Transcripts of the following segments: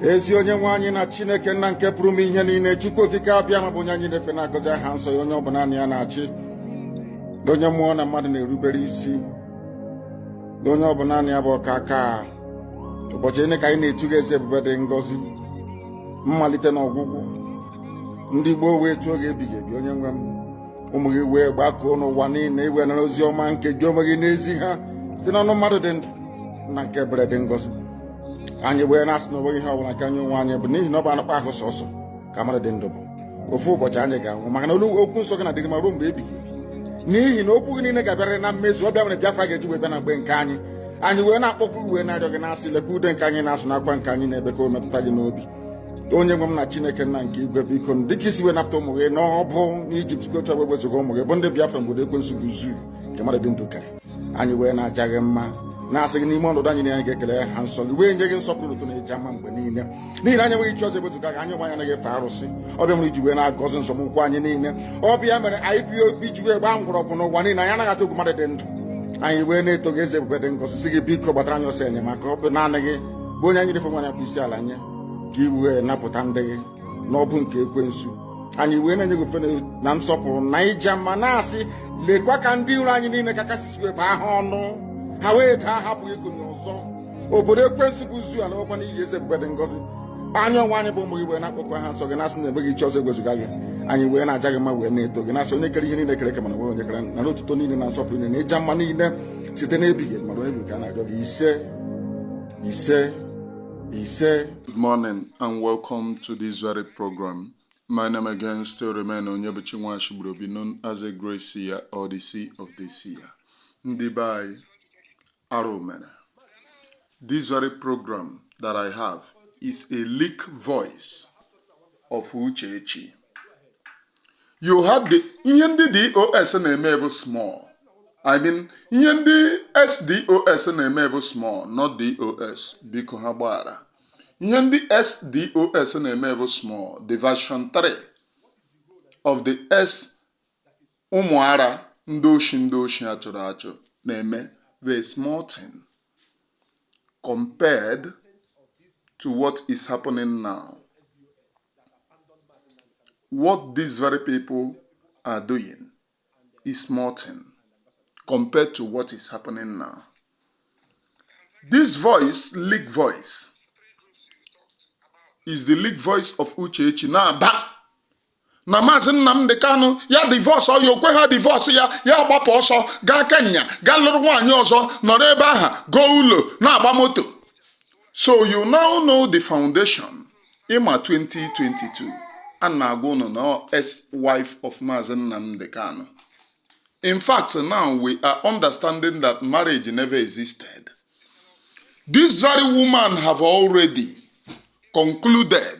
ezi onye nwe anyị na chineke nna nke pụrụ ime ihe niile chukwu okike abịama bụ onye anyị na-efe na-agọzi aha nsọ ya onye ọ bụ naanị ya na-achị onye mmụọ na mmadụ na-erubere isi onye ọ bụ naanị ya bụ ọkaakaa ụbọchị niile ka anyị na-etu gị eze ebube dị ngọzi mmalite na ọgwụgwụ ndị gboo wee tuo gị ebighị ebi onye nwe m ụmụ gị wee gbakọọ n'ụwa niile i wee nara ozi ọma nke gị onwe gị na-ezi ha site n'ọnụ mmadụ dị ndụ nna nke ebere dị ngọzi anyị wee na-asị na onweghị ihe ọbụla nke anyị onwe anyị bụ n'ihi na ọ bụ anụkpa ahụ sọsọ ka mmadụ dị ndụ bụ ofu ụbọchị anyị ga-anwụ maka na olu okwu nsọ gị na-adịgide ma ruo mgbe ebighị ebi n'ihi na okwu gị niile ga-abịarịrị na mmezu ọ bụ ya mere Biafra ga-eji wee bịa na mgbe nke anyị anyị wee na-akpọkwu wee na-arịọ gị na-asị lekwa ude nke anyị na-asụ na akwa nke anyị na-ebe ka o metụta gị n'obi onye nwe m na chineke nna nke igwe biko dịka i si wee napụta ụmụ gị n'agbụ n'ijipt si otu a wee wezuga ụmụ gị bụ ndị biafra n'obodo ekwensu bụ zoo nke mmadụ dị ndụ kere anyị wee na-aja gị mma na-asị gị n'ime ọnọdụ anyị na anyị ga-ekele aha nsọ gị wee nye gị nsọpụrụ otuto na ejamma mgbe niile n'ihi na anyị enweghị chi ọzọ ebezuga gị anyị onwe anyị anaghị efe arụsị ọ bụ ya mere i ji wee na-agọzi nzọmụkwụ anyị niile ọ bụ ya mere ipob ji wee gbaa mgbọrọgwụ n'ụwa niile anyị anaghị atụ egwu mmadụ dị ndụ anyị wee na-eto gị eze ebube dị ngọzi sị gị biko gbatara anyị ọsọ enyemaka ọ bụ naanị gị bụ onye anyị na-efe onye anyị na-akpọ isi ala nye ka i wee napụta ndị gị n'agbụ nke ekwensu anyị wee na-enye gị ofufe na nsọpụrụ na ịja mma na-asị lekwa ka ndị iro anyị niile ka kasị si wee baa ha ọnụ ha wee daa ha apụghị ikuni ọzọ obodo ekwensu bụ zoo alawokwa n'iyi eze ebube dị ngọzi anyị onwe anyị bụ ụmụ gị wee na-akpọku aha nsọ gị na-asị na e nweghị chi ọzọ ewezuga gị anyị wee na-aja gị mma wee na-eto gị na-asị onye kere ihe niile kere eke mana e nweghị onye kere nara otuto niile na nsọpụrụ niile na ịja mma niile site n'ebighị ebi ma ruo ebi ka a na-agọ gị ise ise ise good morning and welcome to this very program my name again still remain onyebuchi nwachigburobi known as a great seer or the seer of the seer ndị be anyị arụ mere This very program that I have is a leak voice of Uchechi. You heard the ihe ndị DOS na-eme bụ small. I mean ihe ndị ex DOS na-eme bụ small not DOS biko ha gbaghara. Ihe ndị ex DOS na-eme bụ small the version 3 of the ụmụ ara ndị oshi ndị oshi a chụrụ achụ na-eme the small thing compared to what is happening now. What these very people are doing is small thing compared to what is happening now. This voice, leak voice, is the leak voice of Uchechi na-aba na maazị Nnamdi Kanu ya divorce ọya okwe ha divorce ya ya gbapụ ọsọ gaa Kenya gaa lụrụ nwaanyị ọzọ nọrọ ebe aha goo ụlọ na-agba moto so you now know the foundation ịma 2022 a na-agwa ụnụ na ex wife of maazị Nnamdi Kanu in fact now we are understanding that marriage never existed this very woman have already concluded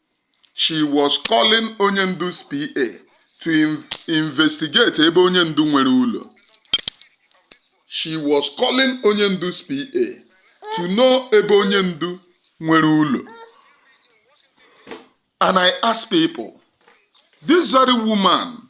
She was calling onye ndu's PA to in- investigate ebe onye ndu nwere ụlọ. She was calling onye ndu's PA to know ebe onye ndu nwere ụlọ. And I ask people, this very woman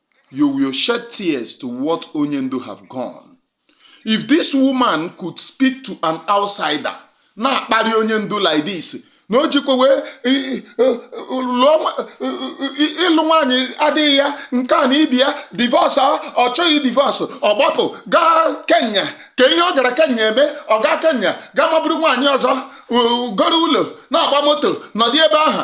You will shed tears to what onye ndu have gone. If this woman could speak to an outsider, na-akparị onye ndu like this, na o jikwa wee i- i- lụọ nwa- i- i- ịlụ nwaanyị adịghị ya nke a na ibi ya divorce ọ chọghị divorce ọ gbapụ gaa Kenya ka ihe ọ gara Kenya eme ọ gaa Kenya gaa maburu nwaanyị ọzọ u- goro ụlọ na-agba moto nọdị ebe ahụ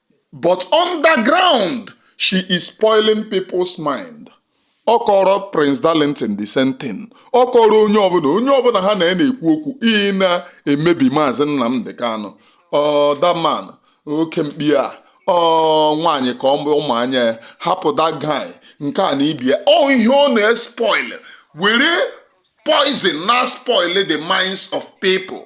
but underground she is spoiling people's mind ọ kọrọ Prince Darlington the same thing ọ kọrọ onye ọbụla onye ọbụla ha na ya na-ekwu okwu ị na-emebi maazị Nnamdi Kanu that man oke mkpi a ọ nwaanyị ka ọ bụ ụmụ anya ya hapụ that guy nke a na ibia ọ ihe ọ na-espoil were poison na-espoil the minds of people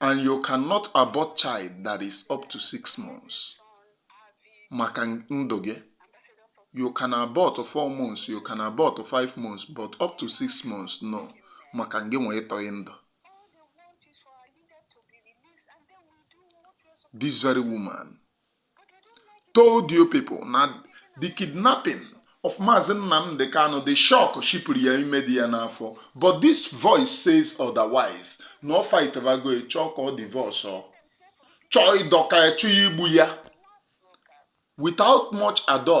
and you cannot abort child that is up to six months maka ndụ gị you can abort four months you can abort five months but up to six months no maka gị nwee ịtọghị ndụ this very woman told you people na the kidnapping of Mazi Nnamdi Kanu the shock shipụrụ ya ime dị ya n'afọ but this voice says otherwise na ọ fightbago chọọ ka ọ divorce ọ chọọ ịdọka ya chọọ igbu ya without much ado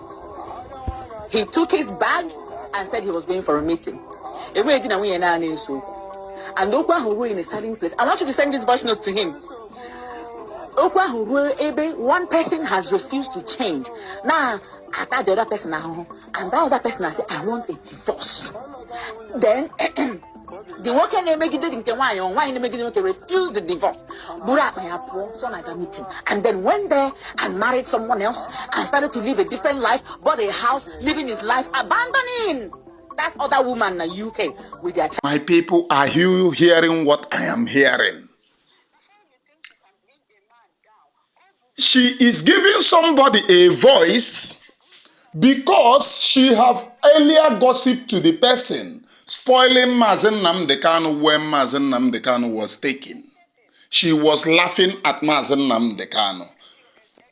he took his bag and said he was going for a meeting enweghị di na nwunye naanị nso okwu and okwu ahụ ruo in a certain place I want you to send this voice note to him okwu ahụ ruo ebe one person has refused to change na ata the other person ahụhụ and that other person has said I want a divorce then the nwoke na-emegide dị nke nwaanyị ọ nwaanyị na-emegide nwoke refuse the divorce buru akpa ya pụọ sị ọ na-aga meeting and then went there and married someone else and started to live a different life bought a house living his life abandoning that other woman na UK with their child. My people, are you hearing what I am hearing? she is giving somebody a voice because she have earlier gossip to the person spoiling Mazi Nnamdi Kanu when Mazi Nnamdi Kanu was taken. She was laughing at Mazi Nnamdi Kanu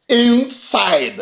inside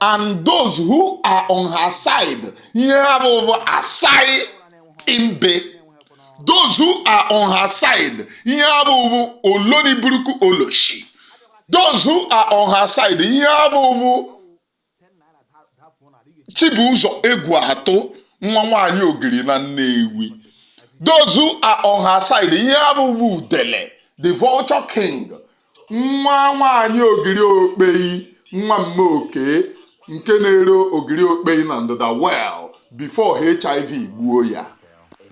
and those who are on her side ihe ha bụ bụ asai imbe those who are on her side ihe ha bụ bụ oloriburuku oloshi those who are on her side ihe ha bụ bụ Chibuzo Egwuatụ nwa nwaanyị ogiri na Nnewi those who are on her side ihe ha bụ bụ udele the vulture king nwa nwaanyị ogiri okpei nwa mma oke nke na-ere ogiri okpei na ndịda well before HIV gbuo ya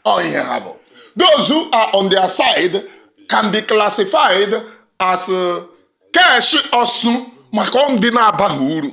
ọ ihe ha bụ those who are on their side can be classified as uh, kesh ọsụ maka ndị na-abaghị uru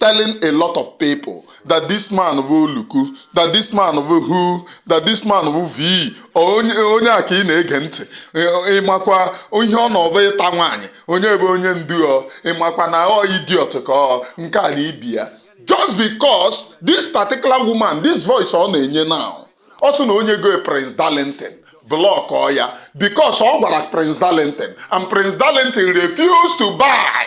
telling a lot of people that this man bụ oluku that this man bụ who that this man bụ v onye a ka ị na-ege ntị Ị- ịmakwa ihe ọ nọbụ ịta nwaanyị onye bụ onye ndu ọ ịmakwa na ọ idiot ka ọ nke a na ibi ya just because this particular woman this voice ọ na-enye now ọ sị na o nyego prince darlington blọkụọ ya because ọ gwara prince darlington and prince darlington refused to buy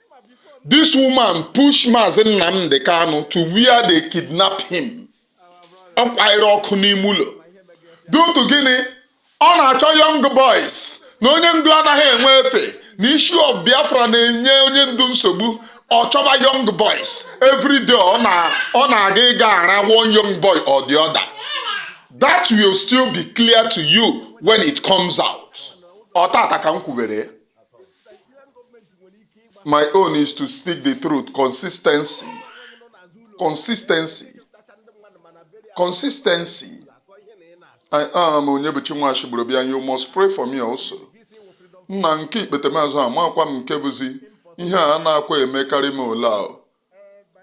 This woman pushed Mazi Nnamdi Kanu to where they kidnapped him. Ọ kwanyere ọkụ n'ime ụlọ. Due to gịnị? Ọ na-achọ young boys na onye ndu anaghị enwe efe na issue of Biafra na-enye onye ndu nsogbu. Ọ chọba young boys every day ọ na-aga ịga ara one young boy or the other. That will still be clear to you when it comes out. Ọ tata ka m kwubere. my own is to speak the truth consistency consistency consistency I am Onyebuchi Nwachibụrụbịa you must pray for me also nna nke ikpetemazụ amakwa m nke bụzi ihe a na-akwa emekarị m ole ahụ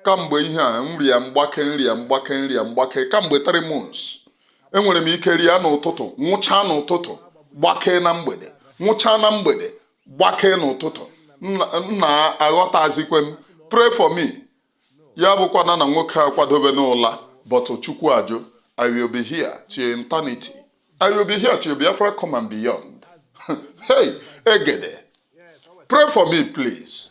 kamgbe ihe a nrịa mgbake nrịa mgbake nrịa mgbake kamgbe 3 months enwere m ike rịa n'ụtụtụ nwụchaa n'ụtụtụ gbakee na mgbede nwụchaa na mgbede gbakee n'ụtụtụ nna aghọtazikwe m pray for me ya bụkwana na nwoke akwadobena ụla but chukwu ajụ i will be here till eternity i will be here till biafra come and beyond hey egede pray for me please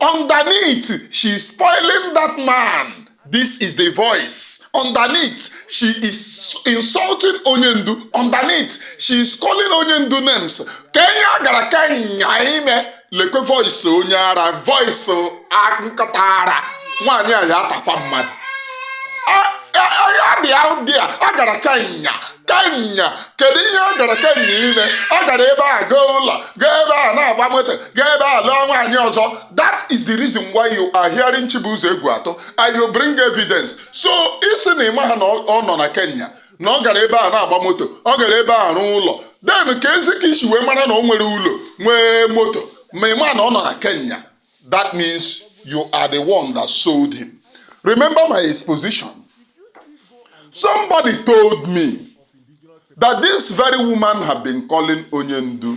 Underneath, she is spoiling that man. This is the voice. Underneath, she is insulting Onyendu. Underneath, she is calling Onyendu names. Kee ihe ọ gara Kenya ime lekwe voice onye ara voice nkịta ara nwaanyị a ya atakwa mmadụ ya bịa dị a a gara Kenya Kenya kedu ihe ọ gara Kenya ime ọ gara ebe a goo ụlọ gaa ebe a na-agba moto gaa ebe a lụọ nwaanyị ọzọ that is the reason why you are hearing Chibuzo Egwuatu and you bring evidence so ị sị na ị maha na ọ nọ na Kenya na ọ gara ebe a na-agba moto ọ gara ebe a rụọ ụlọ then keezi ka i si wee mara na o nwere ụlọ nwee moto ma ị maha na ọ nọ na Kenya that means you are the one that sold him remember my exposition somebody told me that this very woman had been calling Onyendu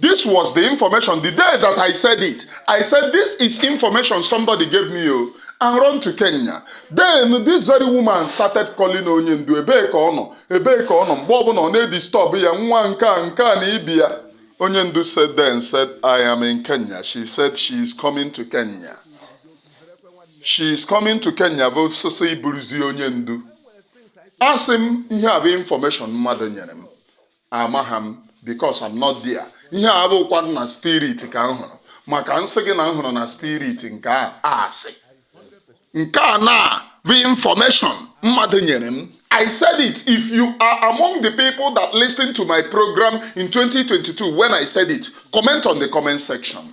This was the information the day that I said it. I said, This is information somebody gave me, oh, and run to Kenya. Then this very woman started calling onye ndu ebee ka ọ nọ ebee ka ọ nọ mgbe ọbụla ọ na-edisturb ya nwa nke a nke a na ibi ya. Onye ndu said then said, I am in Kenya. She said she is coming to Kenya. She is coming to Kenya ọsịịsọ e buruzi onye ndu. Asị m ihe a bụ information mmadụ nyere m. amaghị m because I'm not there ihe a bụkwa na spirit ka m hụrụ maka m sị gị na m hụrụ na spirit nke a asị nke a na bụ information mmadụ nyere m I said it. If you are among the people that listened to my program in 2022 when I said it, comment on the comment section.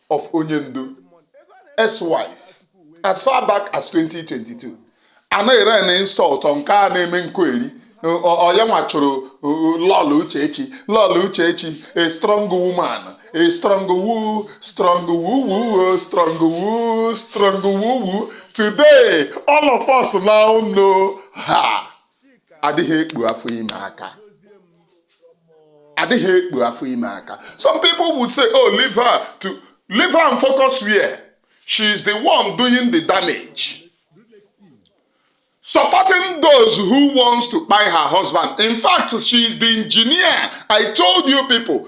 of Onyendu ex-wife as far back as 2022 anaghị rain insult nke a na-eme nkụ eri onye nwa chụrụ Lọlọ Uchechi Lọlọ Uchechi a strong woman a strong woo strong woo woo strong woo strong woo woo today all of us now know her adịghị ekpu afọ ime aka adịghị ekpu afọ ime aka some people would say oh leave her to leave her and focus where she is the one doing the damage supporting those who wants to buy her husband in fact she is the engineer i told you people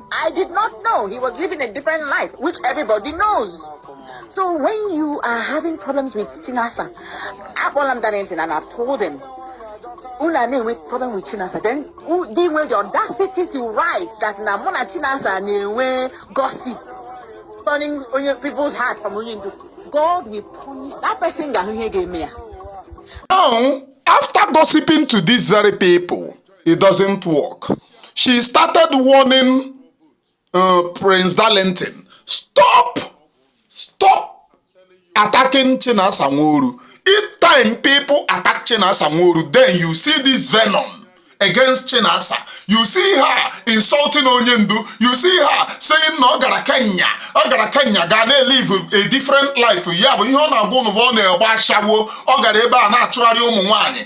I did not know he was living a different life, which everybody knows. So when you are having problems with Chinasa, akpọla m Darlington and I told him, unu a na-enwe problem with Chinasa, then u- they nwere the audacity to write that na mụ na Chinasa na-enwe gossip, turning onye people's heart from onye ndu. God will punish that person ga-ahụ ihe ga-eme ya. Now, after gossiping to these very people, it doesn't work. She started warning uh, Prince Darlington, stop, stop attacking Chinasa Nworu. Each time people attack Chinasa Nworu, then you see this venom. against Chinasa. You see her insulting Onyendu. You see her saying na ọ gara Kenya. Ọ gara Kenya gaa na-elive a different life. Ya bụ ihe ọ na-agwa ụnụ ọ na-agba ashawo. Ọ gara ebe a na-achụgharị ụmụ nwaanyị.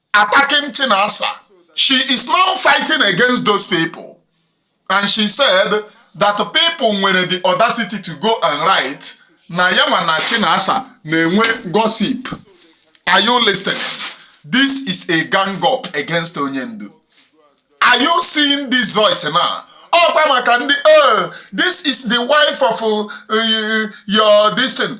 attacking Chinasa. She is now fighting against those people. And she said that people nwere the audacity to go and write na ya ma na Chinasa na-enwe gossip. Are you listening? This is a gang up against Onyendu. Are you seeing this voice now? ọkwa maka ndị oh, this is the wife of uh, your this thing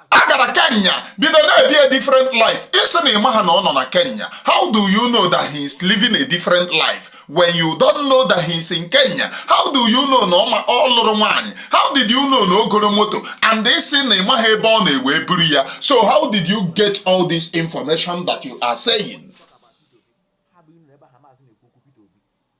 a gara kenya bido na-ebi a different life ị sị na ị maha na ọ nọ na kenya how do you know that he is living a different life when you don't know that he is in kenya how do you know na ọ lụrụ nwaanyị how did you know na o goro moto and ị sị na ị maha ebe ọ nọ e wee buru ya so how did you get all this information that you are saying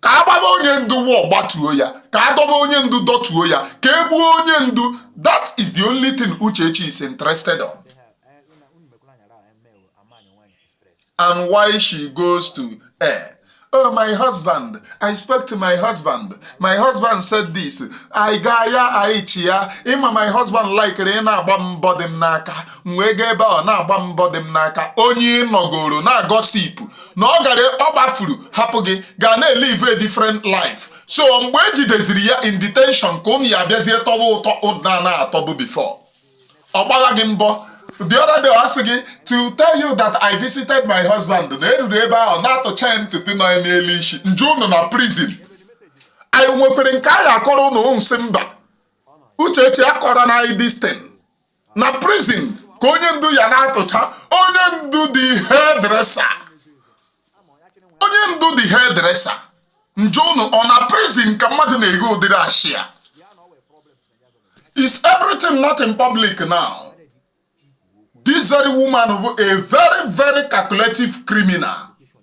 ka a gbaba onye ndu wee gbatuo ya ka a dọba onye ndu dọtuo ya ka e gbuo onye ndu that is the only thing Uchechi is interested on and why she goes to eh, Oh, my husband, I spoke to my husband. My husband said this. I ga ya aichi ya. Ịma my husband likere ị na-agba mbọ dị m n'aka. M wee gaa ebe ọ na-agba mbọ dị m n'aka. Onye nọgoro na-agossip. na ọ gara ọ gbafuru hapụ gị ga na-elive a different life so mgbe e jideziri ya in detention ka ụnụ ya abịazie tọba ụtọ ụnụ na-atọbu before ọ gbagha gị mbọ the other day ọ sị gị to tell you that I visited my husband na eruru ebe ahụ na-atụcha ya ntutu nọ ya n'elu isi njụ unu na prison anyị nwekwere nke anyị akọrọ ụnụ m sị mba uchechi akọrọ na distin na prison ka onye ndu ya na-atụcha onye ndu the hairdresser onye ndu the hairdresser njụ ụnụ ọ na prison ka mmadụ na-ego ụdịrị ashịa is everything not in public now this very woman bụ a very very calculative criminal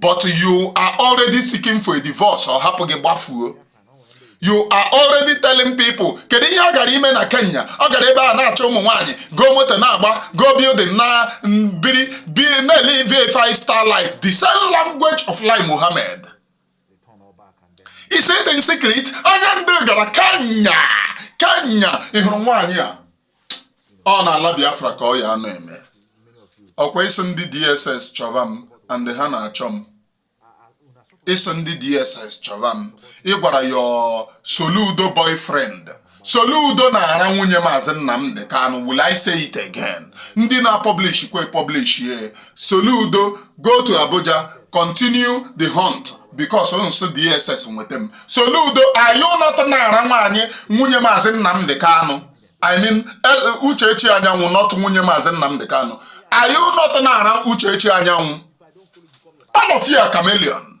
but you are already seeking for a divorce ọ hapụ gị gbafuo you are already telling people kedu ihe ọ gara ime na kenya ọ gara ebe a na-achọ ụmụ nwaanyị go moto na-agba go building na biri na-elive five star life the same language of Lai Muhammad is it in secret anya ndị gara kenya kenya ị hụrụ nwaanyị a ọ n'ala biafra ka ọ ya anọ eme ọkwa ị sị ndị dss chọba m and ha na-achọ m ị sị ndị dss chọba m ị gwara your soludo boyfriend Soludo na-ara nwunye Maazị Nnamdi Kanu will I say it again ndị na-apublish kwe publish ye Soludo go to Abuja continue the hunt because nso DSS nweta m Soludo are you not na-ara nwaanyị nwunye Maazị Nnamdi Kanu I mean eh, Uchechi Anyanwụ not nwunye Maazị Nnamdi Kanu are you not na-ara Uchechi Anyanwụ all of you are chameleon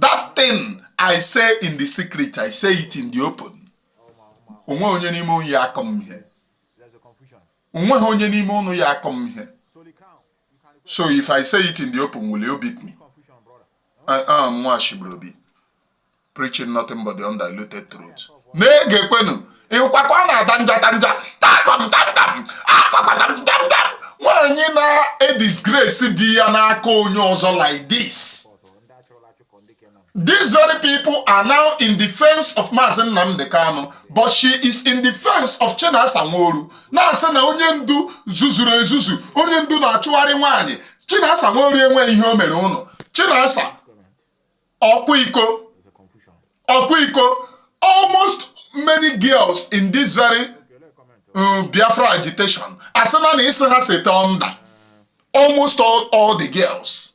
that thing i say in the secret i say it in the open onweghị onye n'ime ụnụ ya akụ m ihe onweghị onye n'ime ụnụ ya akụ m ihe so if i say it in the open will you beat me i am nwa shibrobi preaching nothing but the undiluted truth na-egekwenu nkwa ka ọ na-ada njata nja nwaanyị na-edisgrace di ya n'aka onye ọzọ like this These very people are now in defense of Maazị Nnamdi Kanu, but she is in defense of Chinasa Nworu. Na-asị na onye ndu zuzuru ezuzu, onye ndu na-achụgharị nwaanyị. Chinasa Nworu enweghị ihe o mere ụnụ. Chinasa ọkwa iko ọkwa iko almost many girls in this very uh, Biafra agitation asịna na isi ha seta under almost all, all the girls.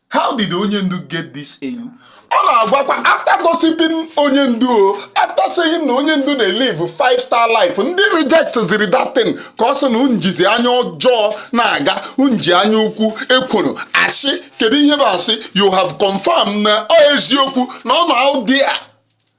how did onye ndu get this ewu ọ na-agwakwa after gossiping onye ndu o after saying na onye ndu na-elive five star life ndị rejectiziri that thing ka ọ sị na unu jizi anya ọjọọ na-aga unu ji anya ukwu ekworo asị kedu ihe bụ asị you have confirmed na ọ eziokwu na ọ na audio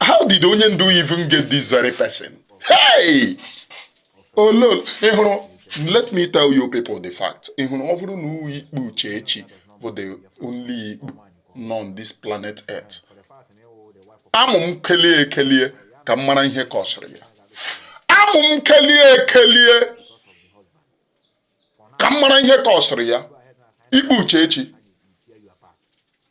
how did onye ndu even get this very person hey oh lord ị hụrụ let me tell you people the fact ị hụrụ ọ bụrụ na ọ bụ ikpu uchechi bụ the only ikpu nọ on this planet earth amụ m kelie ekelie ka m mara ihe kọsịrị ya amụ m kelie ekelie ka m mara ihe kọsịrị ya ikpu uchechi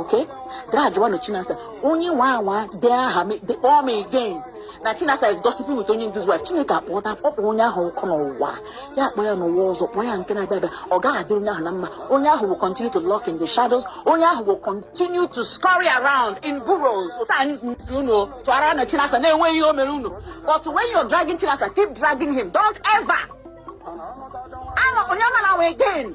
okay dragịwanụ chinasa onye nwaa anwa dee aha m de kpọọ m again na chinasa is gossiping with onye ndu's wife chineke akpọta kpọkpọ onye ahụ ọkụ n'ụwa ya akpọ ya n'ụwa ọzọ kpọọ ya nke na-abịa abịa ọ gaghị adị onye ahụ na mma onye ahụ will continue to lurk in the shadows onye ahụ will continue to scurry around in burrows ụta anyị nke unu tụara na chinasa na-enweghị ihe o mere unu but when you're dragging chinasa keep dragging him don't ever ama onye mara nwe again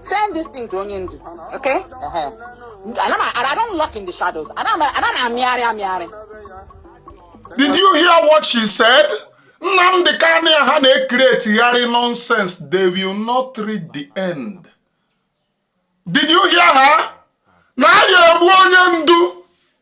Send this thing to onye ndu. Okay? Uh-huh. And, I'm, and I don't lurk in the shadows. Anaghị m, anaghị m amịarị amịarị. Did you hear what she said? Nnamdi Kanu a ha na-ekretigharị nonsense. They will not reach the end. Did you hear her? Na ya egbu onye ndu.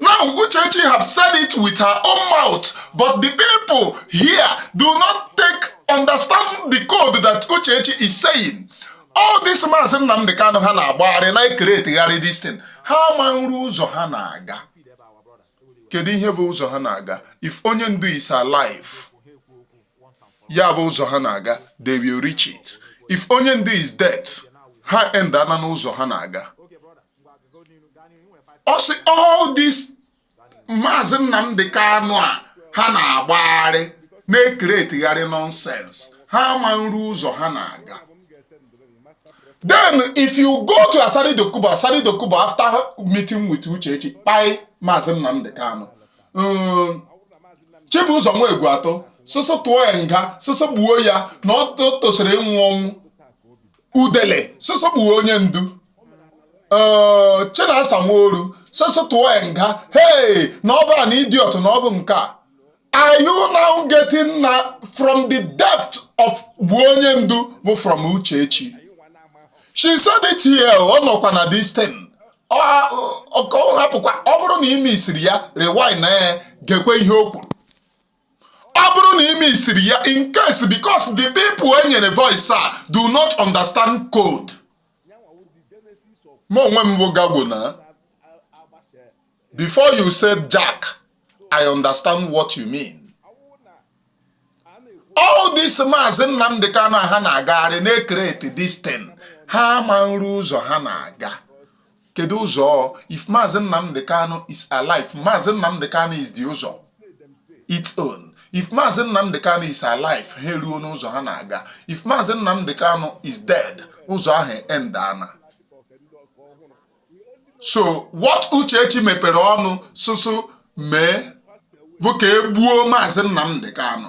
Now, Uchechi have said it with her own mouth, but the people here do not take understand the code that Uchechi is saying. All this maazị Nnamdị Kanụ ha na-agbagharị na-ekeretegharị this thing ha ma nru ụzọ ha na-aga kedu ihe bụ ụzọ ha na-aga if onye ndu is alive ya bụ ụzọ ha na-aga they will reach it if onye ndu is dead ha end ana n'ụzọ ha na-aga ọ sị all this maazị Nnamdi Kanu a ha na-agbagharị na-ekeretigharị nonsense ha ama nru ụzọ ha na-aga then if you go to Asari Dokubo Asari Dokubo after meeting with Uchechi kpai maazị Nnamdi Kanu um, Chibụzọ Nwegwu atọ sọsọ tụọ ya nga sọsọ gbuo ya na ọ tosiri ịnwụ ọnwụ udele sọsọ gbuo onye ndu ee chinasa nworu sọsọ tụọ ya nga hey na ọ bụ an idiot na ọ bụ nke a are you now getting na from the depth of gbuo onye ndu bụ from uchechi she said it here ọ nọkwa na this thing ọ ọ- ọ hapụkwa ọ bụrụ na ị misiri ya rewind na ya gekwe ihe o kwuru ọ bụrụ na ime isiri ya in case because the people e nyere voice a do not understand code mụ onwe m bụ gago na before you say jack i understand what you mean all this maazị nnamdị kanu ha na-agagharị na-ecreate this thing ha ama nri ụzọ ha na-aga kedu ụzọ if Maazị Nnamdi Kanu is alive Maazị Nnamdi Kanu is the ụzọ its own if Maazị Nnamdi Kanu is alive ha eruo n'ụzọ ha na-aga if Maazị Nnamdi Kanu is dead ụzọ ahụ end ana so what Uchechi mepere ọnụ sụsụ mee bụ ka e gbuo Maazị Nnamdi Kanu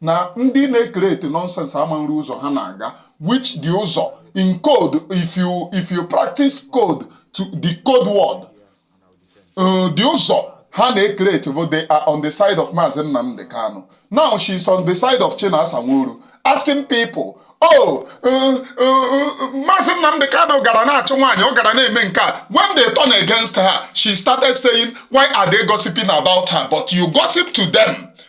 na ndị na-ecreate nonsense ama nri ụzọ ha na-aga which the ụzọ in code if you if you practice code to the code word uh, the ụzọ ha na-ecreate bụ they are on the side of Maazị Nnamdi Kanu now she is on the side of Chinasa Nworu asking people oh uh, uh, uh, Maazị Nnamdi Kanu gara na-achụ nwaanyị ọ gara na-eme nke a when they turn against her she started saying why are they gossiping about her but you gossip to them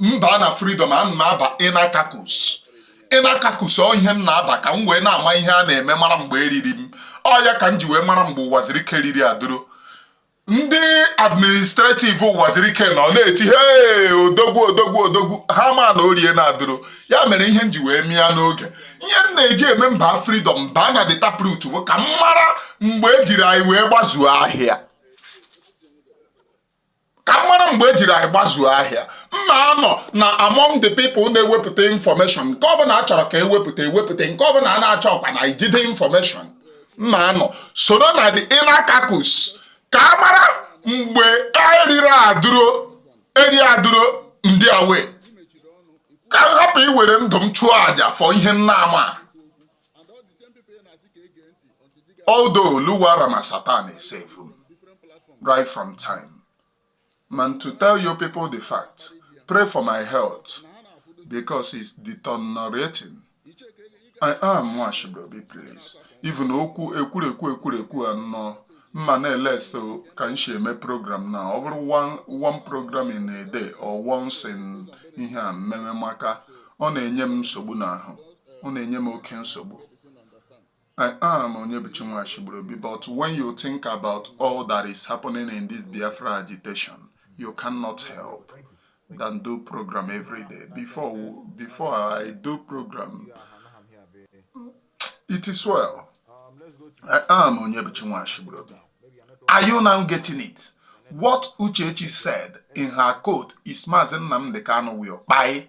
m baa na freedom a m na-aba inner caucus inner caucus ọ ihe m na-aba ka m wee na-ama ihe a na-eme mara mgbe eriri m ọ ya ka m ji wee mara mgbe Ụwazuruike riri aduro ndị administrative Ụwazuruike nọ na-eti he odogwu odogwu odogwu ha ma na o riena aduro ya mere ihe m ji wee mịa n'oge ihe m na-eji eme m baa freedom m baa na the taproot bụ ka m mara mgbe ejiri anyị wee gbazuo ahịa ka m mara mgbe ejiri anyị gbazuo ahịa m na-anọ na among the people na-ewepụta information nke ọbụla a chọrọ ka ewepụta ewepụta nke ọbụla a na-achọkwanụ ijide information m na-anọ soro na the inner caucus ka m mara mgbe eriri aduro eri aduro m dị aware ka m hapụ iwere ndụ m chụọ àjà for ihe m na-ama Although Luwa Ramasatan is saved right from time. Mana to tell you people the fact, pray for my health because it's deteriorating. I am Nwashibobi, please. Even okwu ekwurekwu ekwurekwu anọ mma na-elesta ka m si eme program na ọ bụrụ one program in a day or once in ihe a mmemme maka ọ na-enye m nsogbu n'ahụ ọ na-enye m oke nsogbu I am Onyebuchi Nwachigburubi, but when you think about all that is happening in this Biafra agitation, you cannot help than do program every day. Before, before I do program, it is well. I am Onyebuchi Nwachigburubi. Are you now getting it? What Uchechi said in her code is Mazen Namdekano will buy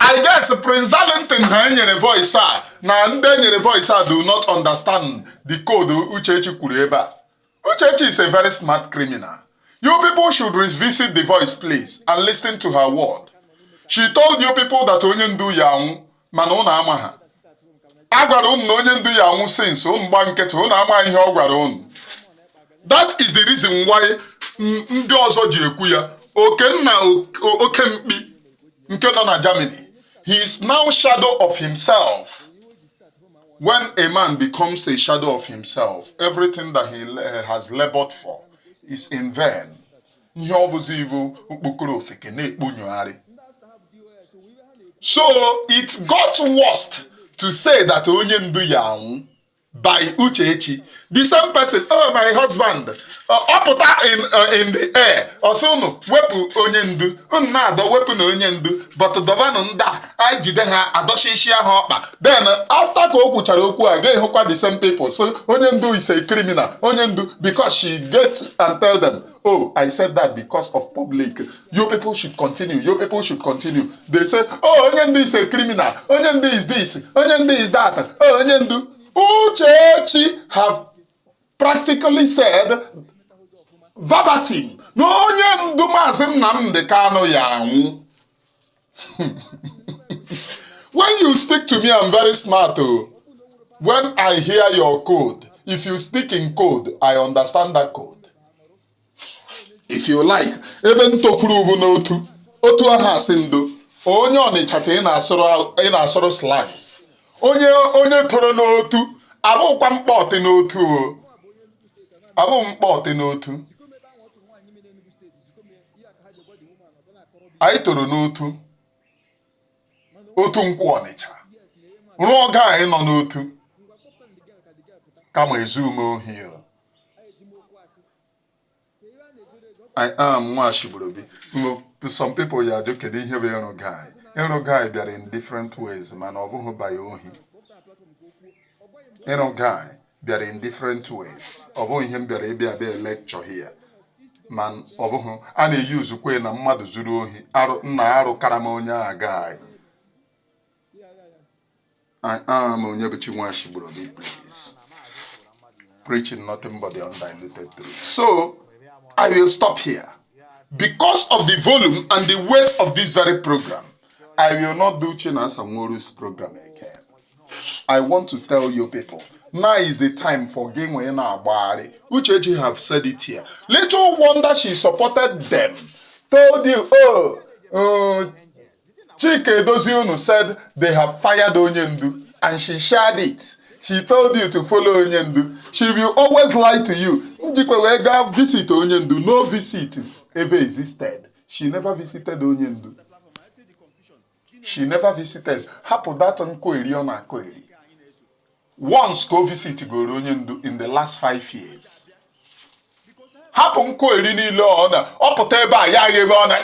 I guess Prince Darlington ha enyere voice a na ndị enyere voice a do not understand the code Uchechi kwuru ebe a. Uchechi is a very smart criminal. You people should revisit the voice please and listen to her word. She told you people that onye ndu ya anwụ mana ụnụ amaha a gwara ụnụ na onye ndu ya anwụ since ụnụ gba nkịtị ụnụ amaha ihe ọ gwara ụnụ that is the reason why ndị ọzọ ji ekwu ya okenna oke mkpi nke nọ na Germany he is now shadow of himself when a man becomes a shadow of himself everything that he has labored for is in vain ihe ọ bụzi ibu okpokoro ofeke na-ekponyogharị so it got worst to say that onye ndu ya anwụ by Uchechi the same person oh my husband ọ pụta in uh, in the air ọ sị unu wepụ onye ndu unu na-adọ wepụnụ onye ndu but dọvanụ ndị a anyị jide ha adọchichi ha ọkpa then after ka o kwuchara okwu a ga-ahụkwa the same people so onye ndu is a criminal onye ndu because she get and tell them Oh, I said that because of public. You people should continue. You people should continue. They say, oh, Onyendi is a criminal. Onyendi is this. Onyendi is that. Oh, Onyendu. Uchechi have practically said verbatim na onye ndu maazị Nnamdi Kanu ya anwụ when you speak to me i'm very smart oh. when i hear your code if you speak in code i understand that code if you like ebe m tokuru bụ n'otu otu a ha sị ndo onye ọnịcha ka ị na-asụrụ slangs onye onye toro n'otu abụkwa mkpọtị n'otu o abụ mkpọtị n'otu anyị toro n'otu otu nkwọ ọnịcha rụọ guy nọ n'otu kama ezuhu m ohi o. I am Nwashibrobi. Mo- Some people ya ajụ kedu ihe bụ ịrụ guy ịrụ guy bịara in different ways mana ọ bụghị by ohi ịrụ guy bịara in different ways ọ bụghị ihe m bịara ịbịa bịa lecture here ma ọ bụghị a na-eusekwa na mmadụ zuru ohi na-arụ karama onye a guy I am Onyebuchi Nwashibrobi please preaching nothing but the undiluted truth so I will stop here because of the volume and the weight of this very program I will not do Chinasa Nworu's program again I want to tell you people now is the time for gị nwee na-agbagharị Uchechi have said it here little wonder she supported them told you oh uh, Chika Edozie unu said they have fired onye ndu and she shared it she told you to follow onye ndu she will always lie to you njikwe wee gaa visit onye ndu no visit ever existed she never visited onye ndu she never visited hapụ that nkọeri ọ na-akọeri once ka o visit goro onye ndu in the last five years hapụ nkọeri niile ọ na ọ pụta ebe a ya agha ebe ọ na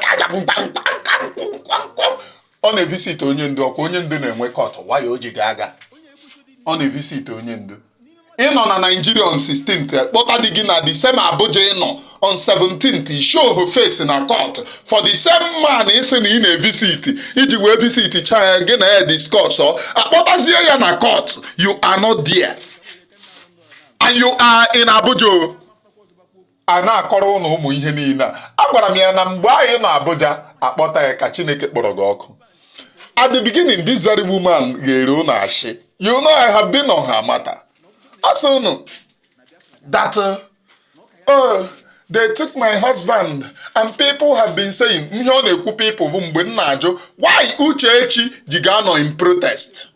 ọ na-evisit onye ndu ọkwa onye ndu na-enwe court why o ji ga aga ọ na-evisit onye ndu ị nọ na Nigeria on 16th kpọta di gị na the same Abuja ị nọ on 17th show her face na court for the same man ị sị na ị na-evisit i ji wee visit cha ya gị na ya discuss ọ a kpọtazie ya na court you are not there and you are in Abuja a na-akọrọ ụnụ ụmụ ihe niile a agwara m ya na mgbe anyị nọ Abuja a kpọta ya ka Chineke kpọrọ gị ọkụ at the beginning this very woman ghere ụnụ ashị you know I have been on her matter a sị ụnụ that uh, oh they took my husband and people have been saying ihe ọ na-ekwu people bụ mgbe m na-ajụ why Uchechi ji ga-anọ in protest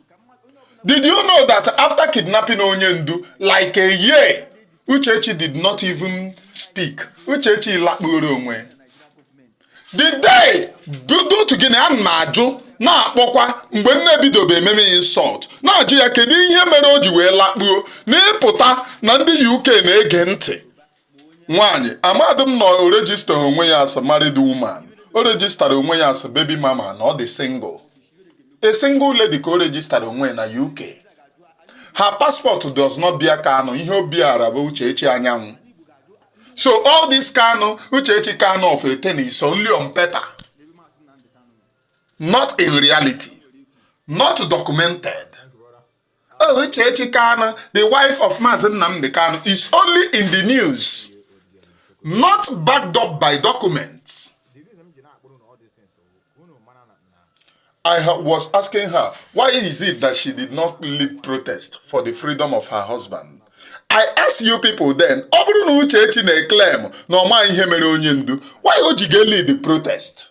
did you know that after kidnapping onye ndu like a year Uchechi did not even speak. Uchechi lakpuru onwe. The day due to gịnị a na-ajụ na-akpọkwa mgbe m na-ebidobe ememe ya insult na-ajụ ya kedu ihe mere o ji wee lakpuo na ịpụta na ndị UK na-ege ntị nwaanyị amadị m na o rejista onwe ya as married woman o rejistara onwe ya as baby mama na ọ dị single A single lady ka o rejistara onwe na UK. Her passport does not bear Kanu. Ihe o beara bụ Uchechi Anyanwụ. So all this Kanu, Uchechi Kanu of a thing is only on paper. Not in reality. Not documented. Oh, Uchechi Kanu, the wife of Mazi Nnamdi Kanu, is only in the news, not backed up by documents. I was asking her, why is it that she did not lead protest for the freedom of her husband? I asked you people then, ọ bụrụ na Uchechi na-eclaim na ọ maghị ihe mere onye ndu, why o ji ga-elead protest?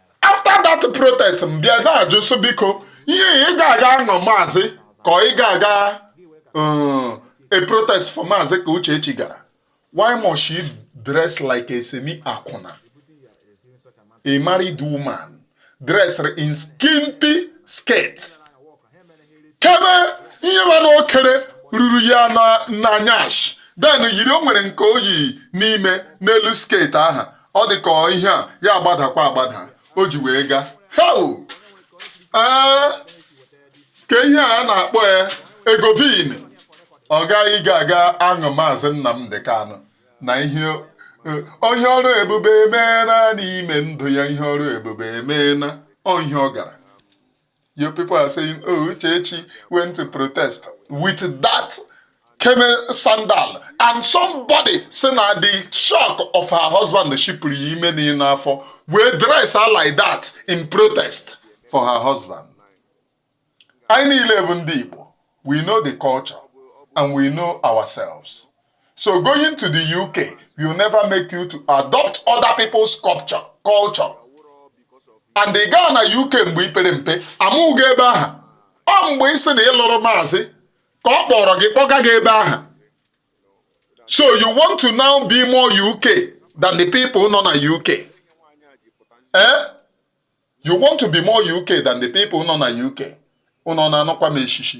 after that protest m bịa na-ajụ sị biko ihe ị ga-aga ahụ maazị ka ị ga-aga um, a protest for maazị ka Uchechi gara why must she dress like a semi akwụna a married woman dressed in skimpy skirts kebe ihe mana o kere ruru ya na nyash then yiri o nwere nke o yi n'ime n'elu skirt aha ọ dị ka ihe a ya agbadakwa agbada o ji wee gaa heo ee ka ihe a na-akpọ ya ego vin ọ gaghị ga-aga ahụ maazị Nnamdi Kanu na ihe onye ọrụ ebube emeela n'ime ndụ ya ihe ọrụ ebube emeela ọ ihe ọ gara You people are saying, oh, Uchechi went to protest with that camel sandal and somebody say na the shock of her husband shipụrụ ya ime niile n'afọ wee dress her like that in protest for her husband. I need eleven Igbo. We know the culture and we know ourselves. So going to the UK will never make you to adopt other people's culture. And ị gaa na UK mgbe i pere mpe amụghị ebe ahụ ọ mgbe ị sị na ị lụrụ maazị ka ọ kpọrọ gị kpọga gị ebe ahụ so you want to now be more UK than the people nọ na UK eh you want to be more UK than the people nọ na UK ụnụ na-anụkwa m eshishi